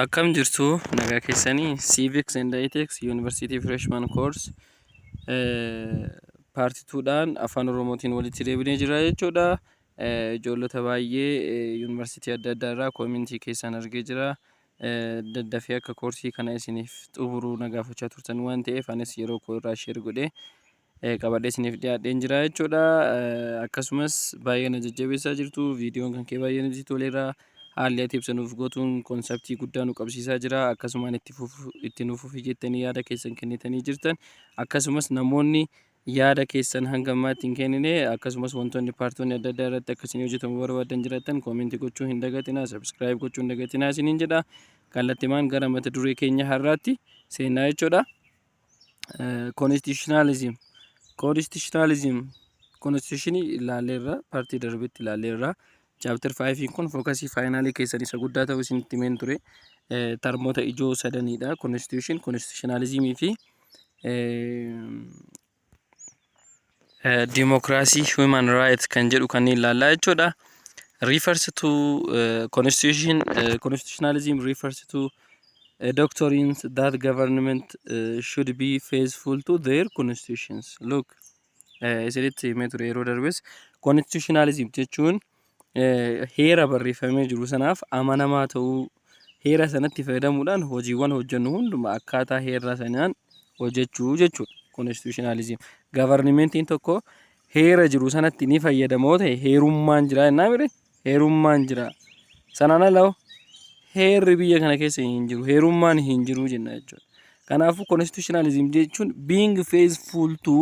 Akkam jirtu nagaa keessanii Civics and Ethics University Freshman Course paartii tuudhaan afaan oromootiin walitti deebinee jira jechuudha. Eh, Ijoollota baay'ee eh, yuunivarsiitii adda addaa irraa koomintii keessaan argee jira. Eh, Daddafee akka koorsii kana isiniif xumuruu na gaafachaa turtan waan ta'eef anis yeroo koo irraa sheer godhee qabadhee isiniif dhiyaadheen jira jechuudha. Akkasumas baay'ee na jajjabeessaa jirtu. Viidiyoon kan kee baay'ee nutti toleera. Haalli ati ibsa nuuf gootuun konseptii guddaa nu qabsiisaa jira. Akkasumaan itti fufu itti nu fufi jettanii yaada keessan kennitanii jirtan. Akkasumas namoonni yaada keessan hanga ammaatti hin kennine akkasumas wantoonni paartonni adda addaa irratti akkasiin hojjetamu barbaadan jiraatan koomentii gochuu hin dagatinaa sabskiraayib gochuu hin dagatinaa isiniin jedha. Kallattimaan gara mata duree keenya har'aatti seenaa jechuudha. Konstitutionalism Konstitutionalism Constitution ilaalleerra paartii darbetti ilaalleerra chapter 5 kun fookasii faayinaalii keessan isa guddaa ta'uu isinitti himeen ture tarmoota ijoo sadaniidha constitution constitutionalism fi Dimookiraasii Human Right kan jedhu kan ilaallaa jechuudha. Refers to uh, constitution, uh, constitutionalism refers to uh, doctrines that government uh, should be faithful to their constitutions. Look, uh, isinitti himee ture yeroo darbes constitutionalism jechuun heera barreeffamee jiru sanaaf amanamaa ta'uu heera sanatti fayyadamuudhaan hojiiwwan hojjennu hunduma akkaataa heera sanaan hojjechuu jechuudha. Konstitushinaalizim. Gavarnimentiin tokko heera jiru sanatti ni fayyadamoo ta'e heerummaan jira jennaa mire heerummaan jira. Sanaan ala heerri biyya kana keessa hin jiru heerummaan hin jiru jenna jechuudha. Kanaafuu konstitushinaalizim jechuun being faithful to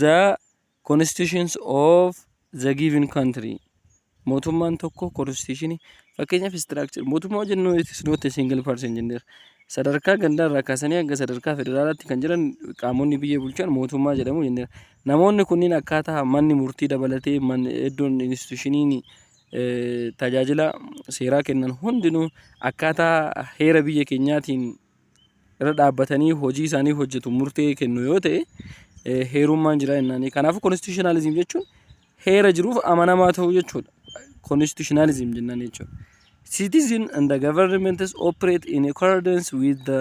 the Constitutions of the given country. Mootummaan tokko constitution fakkeenyaaf structure mootummaa jennuu it is not a single person jenneera. Sadarkaa gandaa irraa kaasanii hanga sadarkaa federaalaatti kan jiran qaamonni biyya bulchan mootummaa jedhamu jenneera. Namoonni kunniin akkaataa manni murtii dabalatee man- iddoon institushiniin eh, tajaajila seeraa kennan hundinuu akkaataa heera biyya keenyaatiin irra dhaabbatanii hojii isaanii hojjetu murtee kennu yoo ta'e eh, heerummaan jira jennaani. Kanaafuu konstitushinaalizim jechuun heera jiruuf amanamaa ta'uu jechuudha. Konstitushinaalizim jennaan jechuudha. Citizen and the governments operate in accordance with the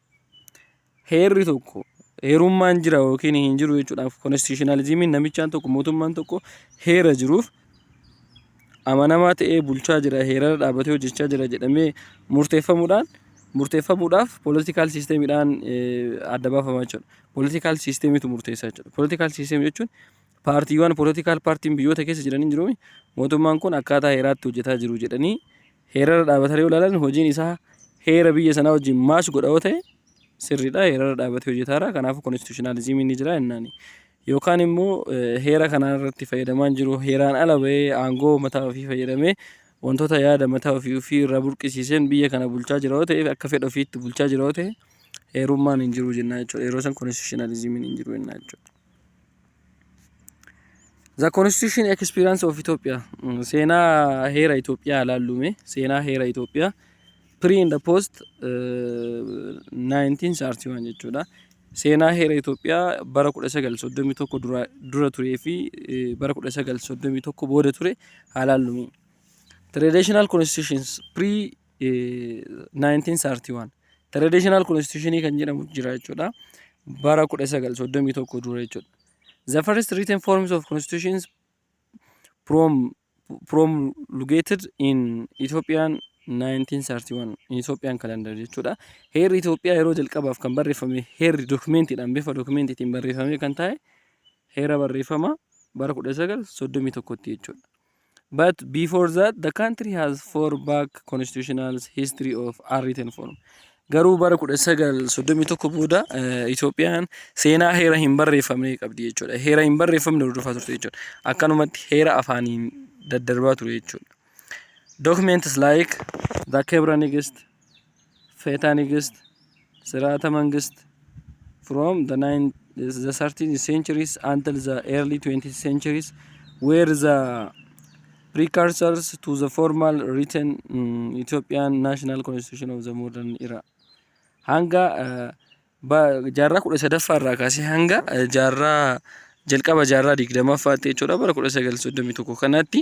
heerri tokko heerummaan jira yookiin hin jiru jechuudhaaf konstitushinaalizimiin namichaan tokko mootummaan tokko heera jiruuf amanamaa ta'ee bulchaa jira heerara dhaabatee hojjechaa jira jedhamee murteeffamuudhaan murteeffamuudhaaf poolitikaal siisteemiidhaan adda baafama jechuudha. Poolitikaal siisteemiitu murteessaa jechuudha. Poolitikaal siisteemii jechuun paartiiwwan poolitikaal paartiin biyyoota keessa jiran hin jiru mootummaan kun akkaataa heeraatti hojjetaa jiru jedhanii heerara dhaabataree yoo ilaalan hojiin isaa heera biyya sanaa wajjin maash godha yoo ta'e sirriidha heerara dhaabatee hojjetaara kanaafuu konstitushinaalizimii ni jira innaani yookaan immoo heera kanaa irratti fayyadamaan jiru heeraan ala ba'ee aangoo mataa ofii fayyadamee wantoota yaada mataa ofii ofii irraa burqisiiseen biyya kana bulchaa jira yoo ta'e akka fedha ofiitti bulchaa jira yoo ta'e heerummaan hin jiru jennaa jechuudha yeroo san konstitushinaalizimiin hin jiru jennaa jechuudha. The Constitution Experience of Ethiopia seenaa heera Itoophiyaa ilaallume seenaa heera Itoophiyaa pre and post eh, 1931 jechuudha. Seenaa heera Itoophiyaa bara 1931 dura, dura turee fi eh, bara 1931 booda ture haa ilaallume. Traditional constitutions pre 1931 traditional constitution kan jedhamu jira jechuudha bara 1931 dura jechuudha the first written forms of constitutions prom promulgated in Ethiopian 1931 in Ethiopian calendar jechuudha heerri Itoophiyaa yeroo jalqabaaf kan barreeffame heerri dookumeentiidhaan bifa dookumeentiitiin barreeffame kan ta'e heera barreeffama bara 1931tti jechuudha. But before that, the country has four back constitutional history of unwritten form. Garuu bara 1931 booda eh, Itoophiyaan seenaa heera hin barreeffamne qabdi jechuudha. Heera hin barreeffamne hordofaa turte jechuudha. Akkanumatti heera afaaniin daddarbaa ture jechuudha. Documents like the Kebra Negest, Theta Nigist, Sirata Mangist, from the, nine, the 13th centuries until the early 20th centuries were the precursors to the formal written mm, Ethiopian national constitution of the modern era. Hanga eh, ba- jaarraa kudha sadaffaa irraa kaasee hanga eh, jaarraa jalqaba jaarraa digdamaffaatti jechuudha bara kudha sagal soddomii tokko kanatti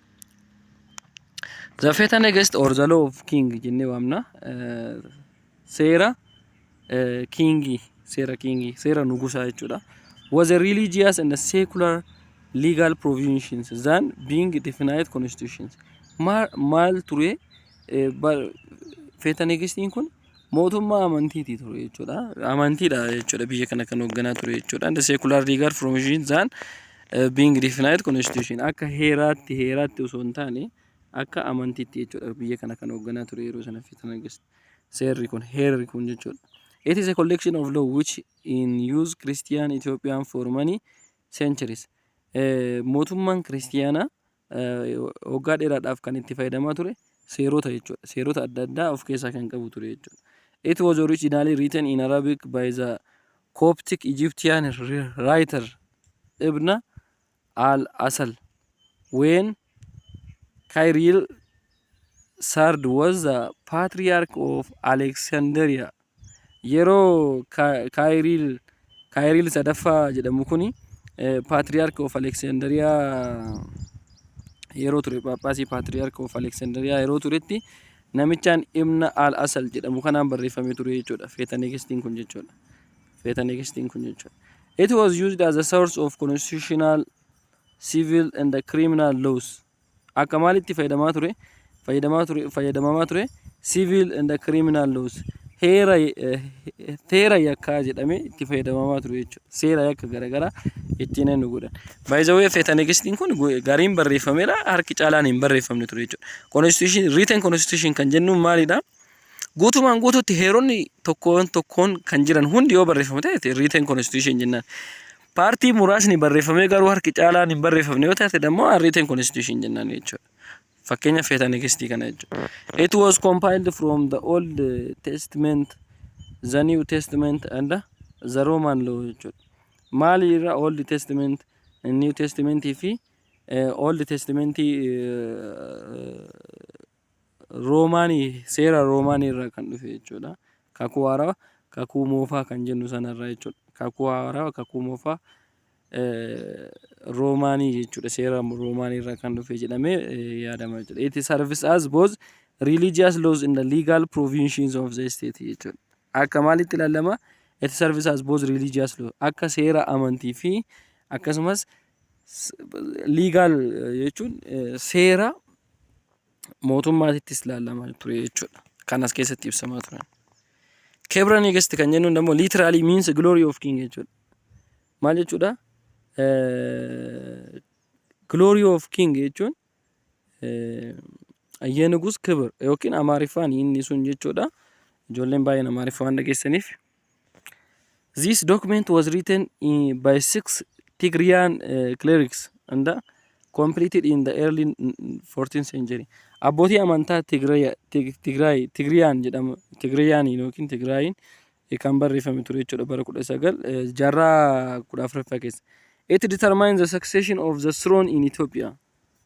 The Feta Next or the Law of King jennee waamna. Seera kiingii, seera kiingii, seera nugusaa jechuudha. Was a religious and a secular legal provisions than being definite constitutions. Maal ture feeta negistiin kun Mootummaa amantiitii ture jechuudha. Amantiidha jechuudha biyya kana kan hoogganaa ture jechuudha. The secular legal formation than uh, being definite constitution akka heeraatti heeraatti osoo hin taane akka amantiitti jechuudha biyya kana kan hoogganaa ture yeroo sana fi sana keessa. Seerri kun heerri kun jechuudha. It is a collection of law which in use Christian Ethiopian for many centuries. Eh, mootummaan kiristiyaanaa waggaa dheeraadhaaf kan itti fayyadamaa ture seerota jechuudha. Seerota adda addaa of keessaa kan qabu ture jechuudha. It was originally written in Arabic by the Coptic Egyptian writer Ibn al-Asal when Cyril Sard was the patriarch of Alexandria Yeroo Kaayiriil, Kaayiriil sadaffaa jedhamu kuni Patriarch of Alexandria yeroo ture, Phaaphaasii Patriarch of Alexandria yeroo turetti namichaan Ibn al-Asal jedhamu kanaan barreeffamee ture jechuudha. Feetaneekistiin kun jechuudha. Feetaneekistiin kun jechuudha. It was used as a source of constitutional, civil and criminal laws. Akka maalitti fayyadamaa ture? Fayyadamaa ture fayyadamamaa ture civil and criminal laws heera seera yakkaa jedhamee itti fayyadamamaa ture jechuudha. Seera yakka garaagaraa ittiin nu godhan. Baay'izawee feetanikistiin kun gariin barreeffameera harki caalaan hin barreeffamne ture jechuudha. Konstituushin riiteen konstituushin kan jennuun maalidha? Guutumaan guutuutti heeronni tokkoon tokkoon kan jiran hundi yoo barreeffame ta'e riiteen konstituushin jennaan. Paartii muraasni barreeffamee garuu harki caalaan hin barreeffamne yoo taate immoo unwritten constitution jennaan jechuudha. Fakkeenya feetaa negistii kana jechuudha. It was compiled from the old testament, the new testament and the roman law jechuudha. Maali irra old testament, new testament fi old testament Roomaanii, seera Roomaanii irraa kan dhufe jechuudha. Kakuu haaraa, kakuu moofaa kan jennu sana irraa jechuudha. Kakuu haaraa, kakuu moofaa Roomaanii jechuudha. Seera Roomaanii irraa kan dhufe jedhamee yaadama jechuudha. It serves as both religious laws in the legal provisions of the state jechuudha. Akka maalitti ilaalama? It serves as both religious law. Akka seera amantii fi akkasumas liigaal jechuun seera mootummaatittis ilaalamaa ture jechuudha. Kan as keessatti ibsamaa turan. Kebra negesti kan jennuun immoo literally means glory of king jechuudha. Maal jechuudha? Glory of king jechuun ayyee nugus kibir yookiin amaariffaan inni sun jechuudha. Ijoolleen baay'een amaariffaa waan dhageessaniif. This document was written in, by six Tigrian uh, clerics and uh, completed in the early n- n- 14th century. Abbootii amantaa Tigraya- Tig- Tigraay Tigriyaan jedhamu Tigriyaaniin yookiin Tigraayiin eh, kan barreeffame ture jechuudha bara 19 eh, jaarraa 14ffaa keessa. It determines the succession of the throne in Ethiopia.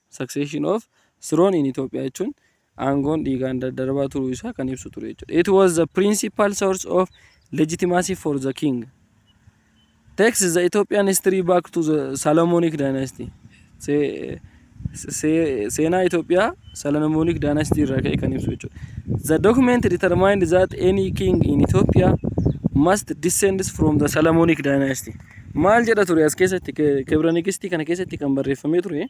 succession of throne in Ethiopia jechuun aangoon dhiigaan daddarbaa turuu isaa kan ibsu ture jechuudha. It was the principal source of legitimacy for the king. Takes the Ethiopian history back to the Solomonic dynasty. Se- se- seenaa Itoophiyaa Solomonic dynasty irraa ka'e kan ibsu jechuudha. The document determined that any king in Ethiopia must descend from the Solomonic dynasty. Maal jedha ture as keessatti kibra nikistii kana keessatti kan barreeffamee ture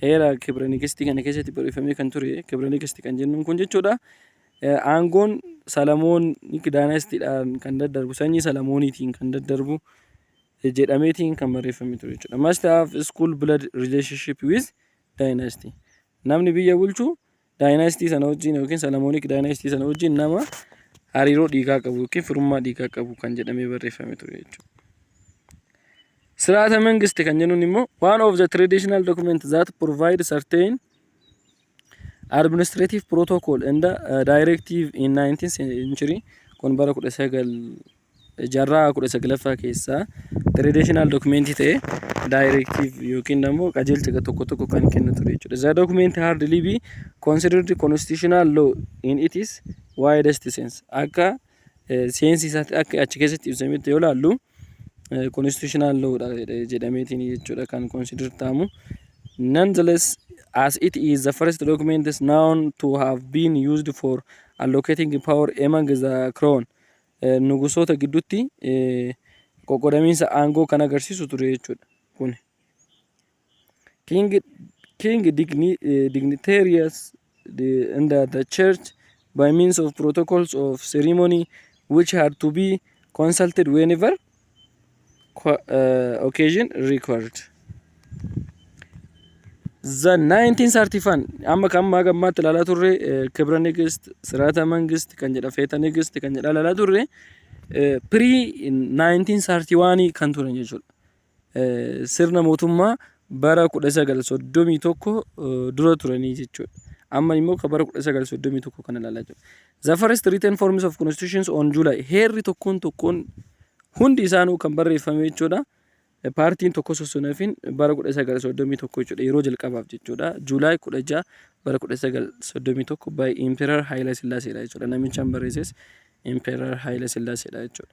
heera kibra nikistii kana keessatti barreeffamee kan ture kibra nikistii kan jennuun kun jechuudha. Aangoon Salamooniik daanastiidhaan kan daddarbu sanyii Salamooniitiin kan daddarbu jedhameetiin kan barreeffamee ture jechuudha. Must have school blood relationship with dynasty. Namni biyya bulchu Daayinaastii sana wajjin yookiin Salamooniik daayinaastii sana wajjin nama hariiroo dhiigaa qabu yookiin firummaa dhiigaa qabu kan jedhamee barreeffame ture jechuudha. Siraata Mengiste kan jennuun immoo one of the traditional document that provide certain administrative protocol and uh, directive in 19th century kun bara 19 jaarraa 19ffaa keessaa traditional document ta'e directive yookiin immoo qajeelcha tokko tokko kan kennu ture jechuudha. The document hardly be considered constitutional law in its widest sense. Akka seensi isaatti akka achi keessatti ibsametti yoo ilaallu constitutional law dha jedhameetiin jechuudha kan consider ta'amu. Nonetheless, as it is the first document known to have been used for allocating power among the crown. nugusoota gidduutti qoqqodamiinsa aangoo kan agarsiisu ture jechuudha. Kun King, King digni, dignitaries the, under the church by means of protocols of ceremony which had to be consulted whenever occasion record the 1931 amma kan ammaa gammaatti ilaalaa turre kibra nigist siraata mangist kan jedha feeta nigist kan jedha ilaalaa turre pre 1931 kan turan jechuudha sirna mootummaa bara 1931 dura turanii jechuudha amma immoo kan bara 1931 kan ilaalaa jirru The first written forms of constitutions on July. Heerri tokkoon tokkoon hundi isaanuu kan barreeffame jechuudha. Paartiin tokko sossonafiin bara 1931 jechuudha. Yeroo jalqabaaf jechuudha. Juulaay 16 bara 1931 by Emperor Haayila Sillaaseedha jechuudha. Namichaan barreesses Emperor Haayila Sillaaseedha jechuudha.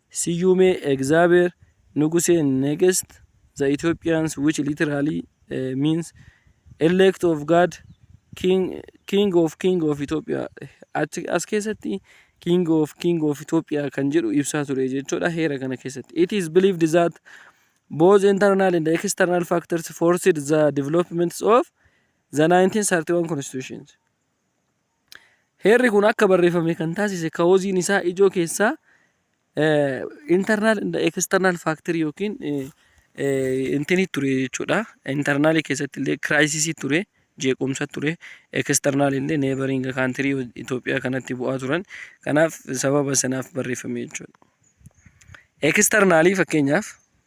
Siyyume Egzaabeer Nugusee Next the Ethiopians which literally eh, means elect of God king, king of king of Ethiopia achi as keessatti king of king of Ethiopia kan jedhu ibsaa ture jechuudha heera kana keessatti it is believed that both internal and external factors forced the developments of the 1931 constitutions Heerri kun akka barreeffame kan taasise kawoziin isaa ijoo keessaa internal and external factor yookiin intini ture jechuudha. Internal keessatti illee crisis ture, jeequmsa ture. External illee neighboring country Itoophiyaa kanatti bu'aa turan. Kanaaf sababa sanaaf barreeffame jechuudha. External fakkeenyaaf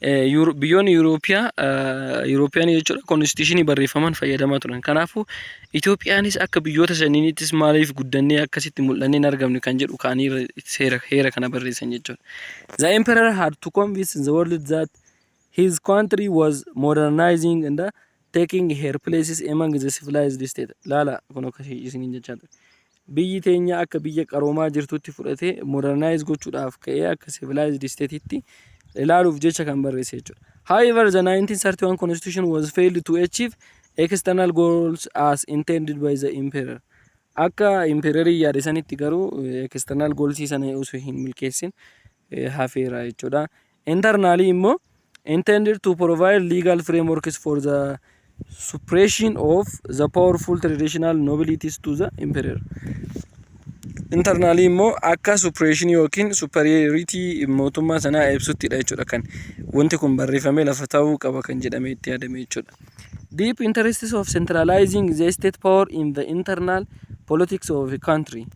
Biyyoonni Yuuroopiyaa Yuuroopiyaanii jechuudha konstitushinii barreeffamaan fayyadamaa turan. Kanaafuu Itoophiyaanis akka biyyoota saniinittis maaliif guddannee akkasitti mul'annee hin argamne kan jedhu kaanii seera heera kana barreessan jechuudha. The emperor had to convince the world that his country was modernizing and taking her places among the civilized state. Laala kun akkasii isiniin jechaa ture. Biyyi teenya akka biyya qaroomaa jirtutti fudhatee modernize gochuudhaaf ka'ee akka civilized state tti ilaaluuf jecha kan barreesse jechuudha. However, the 1931 constitution was failed to achieve external goals as intended by the emperor. Akka impererii yaade sanitti garuu external goals sana osoo hin milkeessin hafeera jechuudha. Internally immoo intended to provide legal frameworks for the suppression of the powerful traditional nobilities to the emperor. Internally immoo akka suppression yookiin superiority mootummaa sanaa ibsuttidha jechuudha kan wanti kun barreeffamee lafa ta'uu qaba kan jedhamee itti yaadame jechuudha. Deep interests of centralizing the state power in the internal politics of a country.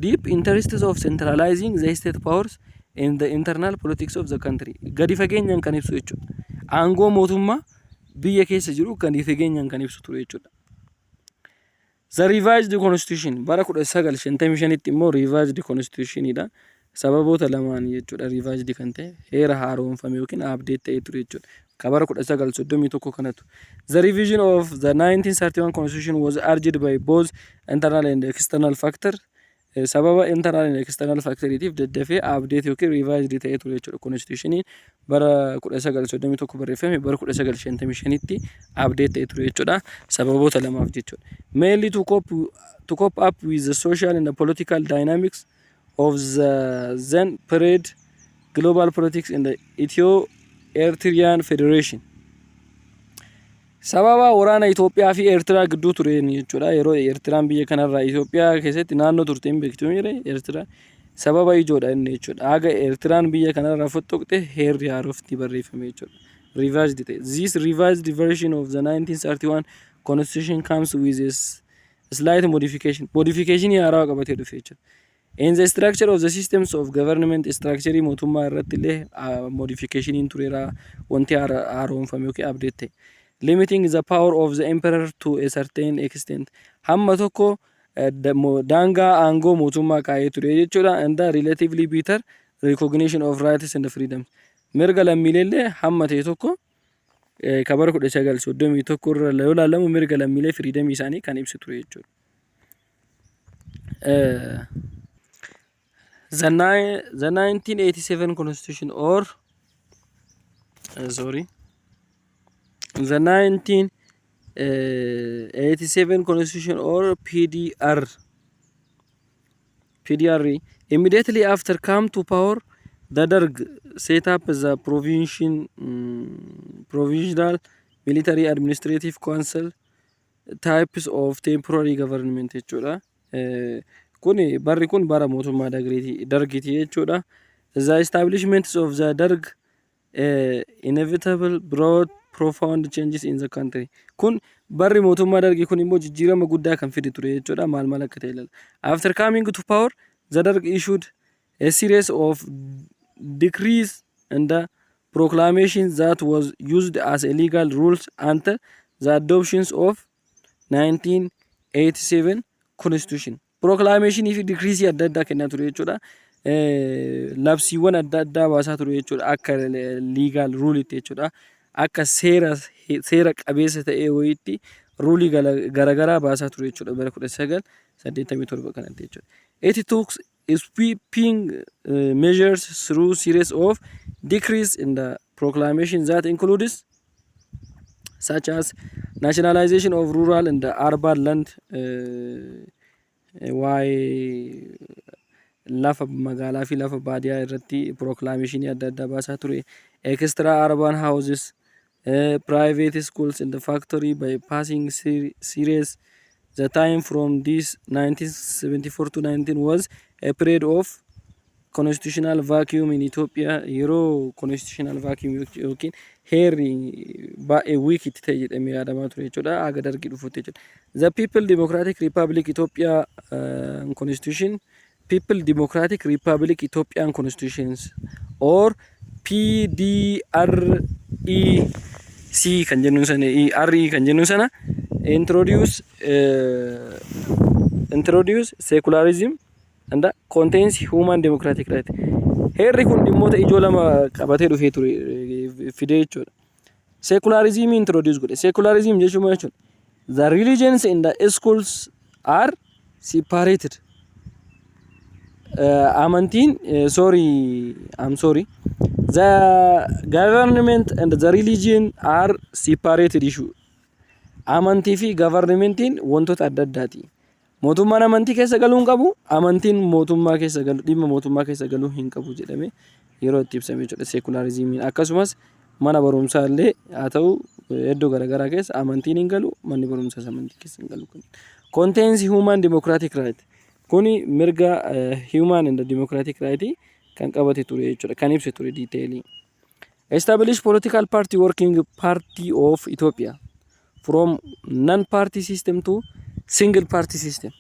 Deep interests of centralizing the state powers in the internal politics of the country. Gadi fageenyaan kan ibsu jechuudha. Aangoo mootummaa biyya keessa jiru gadi fageenyaan kan ibsu ture jechuudha. The revised constitution bara 1955tti immoo revised constitution dha. Sababoota lamaan jechuudha revised kan ta'e heera haaromfame yookiin update ta'ee ture jechuudha. Ka bara 1931 kanatu. The revision of the 1931 constitution was urged by both internal and external factor. Eh, Sababa internal and external factoritiif daddafee update yookiin revised ta'ee ture jechuudha. Constitutioniin bara 1931 barreeffame bara 1955tti update ta'ee ture jechuudha. Sababoota lamaaf jechuudha. Mainly to cope, to cope up with the social and the political dynamics of the then period global politics in the Ethio-Eritrean Federation. Sababa waraana Itoophiyaa fi Eertiraa gidduu tureen jechuudha. Yeroo Eertiraan biyya kanarraa Itoophiyaa keessatti naannoo turte hin beektu mire Eertiraa sababa ijoodha inni jechuudha. Haga Eertiraan biyya kanarraa fottoqte heerri haarofti barreeffame jechuudha. Revised ta'e. This revised version of the 1931 constitution comes with a s- Slight modification. Modification haarawaa qabatee dhufe jechuudha. In the structure of the systems of government structure mootummaa irratti illee modification tureera wanti haaromfame yookiin update ta'e. Limiting the power of the emperor to a certain extent. Hamma tokko daangaa aangoo mootummaa kaa'ee ture jechuudha. And the relatively better recognition of rights and freedoms. Mirga lammiilee illee hamma ta'e tokko kabara 1931 irra yoo ilaalamu mirga lammiilee firiidamii isaanii kan ibsu ture jechuudha. The, ni- the 1987 constitution or uh, sorry the 1987 constitution or PDR PDRI, immediately after come to power, the Derg set up the provision, mm, provisional military administrative council types of temporary government jechuudha. Eh, Kun barri kun bara mootummaa Dagriiti- Dargiiti jechuudha. The establishments of the Darg inevitable brought profound changes in the country. Kun barri mootummaa dargii kun immoo jijjiirama guddaa kan fide ture jechuudha. Maal maal akka ta'e ilaala. After coming to power, the Darg issued a series of decrees and the proclamation that was used as a legal rules until the adoptions of 1987 constitution. Proclamation fi decrees adda addaa kennaa ture jechuudha. Labsiiwwan adda addaa baasaa ture jechuudha. Akka legal rule itti jechuudha. Akka seera seera qabeessa ta'ee wayiitti ruulii garaagaraa baasaa ture jechuudha bara 1987 kanatti jechuudha. It took sweeping measures through series of decrees in the proclamation that includes such as nationalization of rural and urban land waa'ee lafa magaalaa fi lafa baadiyaa irratti proclamation adda addaa baasaa ture extra urban houses uh, private schools and the factory by passing ser- series the time from this 1974 to 19 was a period of Constitutional vacuum in Ethiopia yeroo constitutional vacuum yookiin heerri baay'ee weak itti ta'e jedhamee yaadamaa ture jechuudha. Haga dargii dhufutti jechuudha. The People Democratic Republic Ethiopia uh, Constitution People Democratic Republic Ethiopian Constitutions or PDREC kan jennuun sana RE kan jennuun sana introduce uh, introduce secularism and the contains human democratic right. Heerri kun dhimmoota ijoo lama qabatee dhufee ture eh, fidee jechuudha. Seekulaariziimii introduce godhe. Seekulaariziim jechuun maal jechuudha? The religions in the schools are separated. Eh, amantiin eh, sorry I'm sorry the government and the religion are separated issue amantii fi gavarnimentiin wantoota adda addaati Mootummaan amantii keessa galuu hin qabu, amantiin mootummaa keessa galu, dhimma mootummaa keessa galuu hin qabu jedhamee yeroo itti ibsame jechuudha seekulaariziimiin. Akkasumas mana barumsaa illee haa ta'u iddoo garaagaraa keessa amantiin hin galu, manni barumsaas amantii keessa hin galu. Contains human democratic right. Kuni mirga eh, human and democratic right kan qabate ture jechuudha, kan ibse ture diiteelii. Establish political party working party of Ethiopia from non party system to single party system.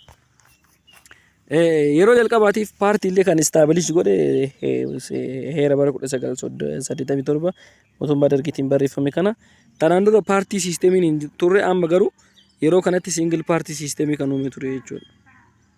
Eh, Yeroo jalqabaatiif paartii illee kan establish godhe eh, eh, heera bara 1987 mootummaa dargiitiin barreeffame kana tanaan dura paartii siistemiin hin turre amma garuu yeroo kanatti single party siistemii kan uume ture jechuudha.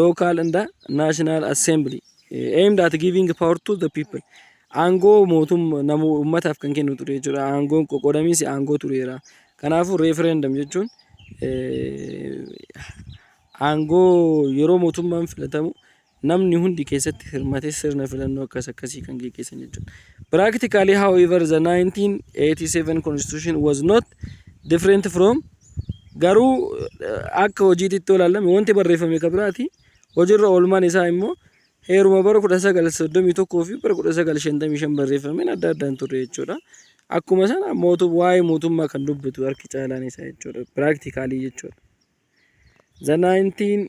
local and national assembly aimed at giving power to the people aangoo mootum namu ummataaf kan kennu ture jechuudha aangoon qoqqoodamiinsi aangoo tureera kanaafuu referendum jechuun aangoo yeroo mootummaan filatamu namni hundi keessatti hirmatee sirna filannoo akkas akkasii kan geggeessan jechuudha. Practically however the 1987 constitution was not different from Garuu akka hojiititti olaalame wanti barreeffame ka biraati. Hojiirra oolmaan isaa immoo heeruma bara 1931 fi bara 1955 barreeffameen adda adda hin turre jechuudha. Akkuma sana waa'ee mootummaa kan dubbatu harki caalaan isaa jechuudha. Piraaktikaalii jechuudha. The 19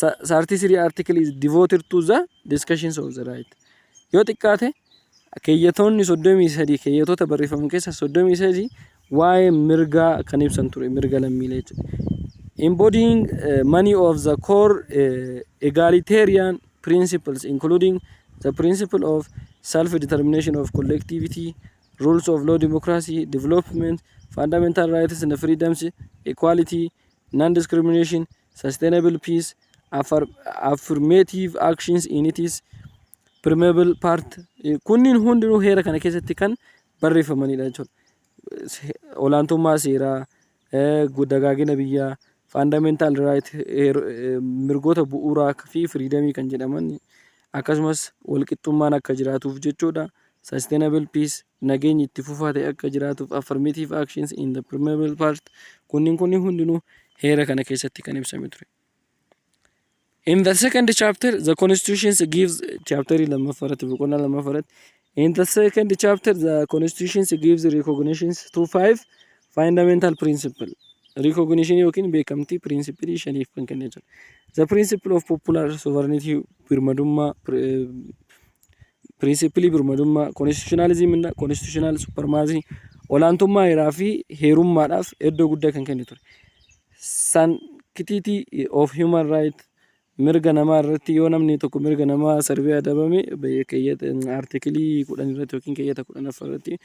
33 article is devoted to the discussions of the right yoo xiqqaate keeyyatoonni 33 keeyyatoota barreeffaman keessa 33 waa'ee mirgaa kan ibsan ture mirga lammiilee jechuudha. Embodying uh, many of the core uh, egalitarian principles including the principle of self-determination of collectivity, rules of law democracy, development, fundamental rights and freedoms, equality, non-discrimination, sustainable peace affirmative actions in its permeable part kunniin hundinuu heera kana keessatti kan barreeffamanidha jechuudha. Olaantummaa seeraa, dagaagina biyyaa, fundamental right mirgoota bu'uuraa fi firiidamii kan jedhaman akkasumas walqixxummaan akka jiraatuuf jechuudha. Sustainable peace nageenyi itti fufaa ta'e akka jiraatuuf affirmative actions in the permeable part kunniin kunniin hundinuu heera kana keessatti kan ibsame ture. In the second chapter the constitution gives chapter lammaffaa irratti boqonnaa lammaffaa irratti in the second chapter the constitution gives recognitions to five fundamental principle recognition yookiin beekamtii pirinsipilii shaniif kan kennee jira. The principle of popular sovereignty birmadummaa pirinsipilii birmadummaa, konstitushinaalizimii fi konstitushinaal supparmaasii, olaantummaa heeraa fi heerummaadhaaf iddoo guddaa kan kennu ture. Sanctity of human right mirga namaa irratti yoo namni tokko mirga namaa sarbee adabame artikilii kudhan irratti yookiin keeyyata kudhanaffaa irratti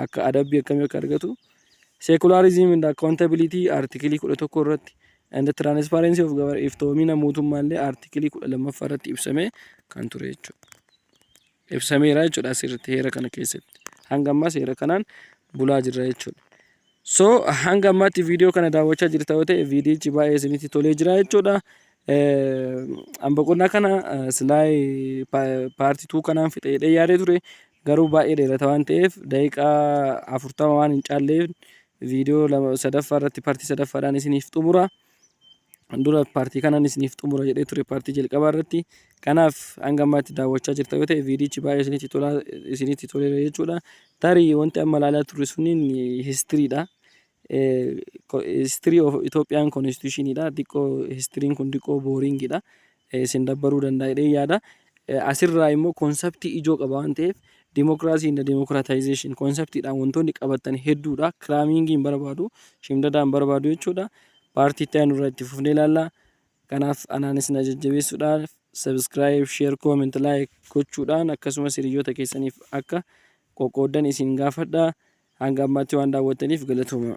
akka adabbii akkamii akka argatu seekulaariizimii fi akkaawuntabilitii artikilii kudha tokko irratti and transparency of government iftoomina mootummaallee article 12ffaa irratti ibsamee kan ture jechuudha. Ibsameera jechuudha asirratti heera kana keessatti. Hanga ammaas heera kanaan bulaa jirra jechuudha. So hanga ammaatti viidiyoo kana daawwachaa jirta yoo ta'e viidiyichi baay'ee isinitti tolee jira jechuudha. An boqonnaa kana silaay paartii tuu kanaan fixee dheeyyaaree ture garuu baay'ee dheerata waan ta'eef daqiiqaa afurtama waan hin caalleef Viidiyoo lama sadaffaa irratti paartii sadaffaadhaan isiniif xumura. Dura paartii kanaan isiniif xumura jedhee ture paartii jalqabaa irratti. Kanaaf hanga ammaatti daawwachaa jirta yoo ta'e viidiyichi baay'ee isinitti tolaa isinitti toleera jechuudha. Tarii wanti amma ilaalaa turre suniin histiriidha. Histirii of Itoophiyaan konstitushiniidha. Xiqqoo histiriin kun xiqqoo booringidha. isin dabbaruu danda'a jedheen yaada. Asirraa immoo konseptii ijoo qaba waan ta'eef Democracy in the Democratization konseptiidhaan wantoonni qabattan hedduudha. Kiraamiingii hin barbaadu, shimdadaa hin barbaadu jechuudha. Paartii itti aanu irraa itti fufnee ilaalla. Kanaaf anaanis na jajjabeessuudhaan subscribe, share, comment, like gochuudhaan akkasumas hiriyoota keessaniif akka qoqqooddan isin gaafadha. Hanga ammaatti waan daawwattaniif galatoomaa.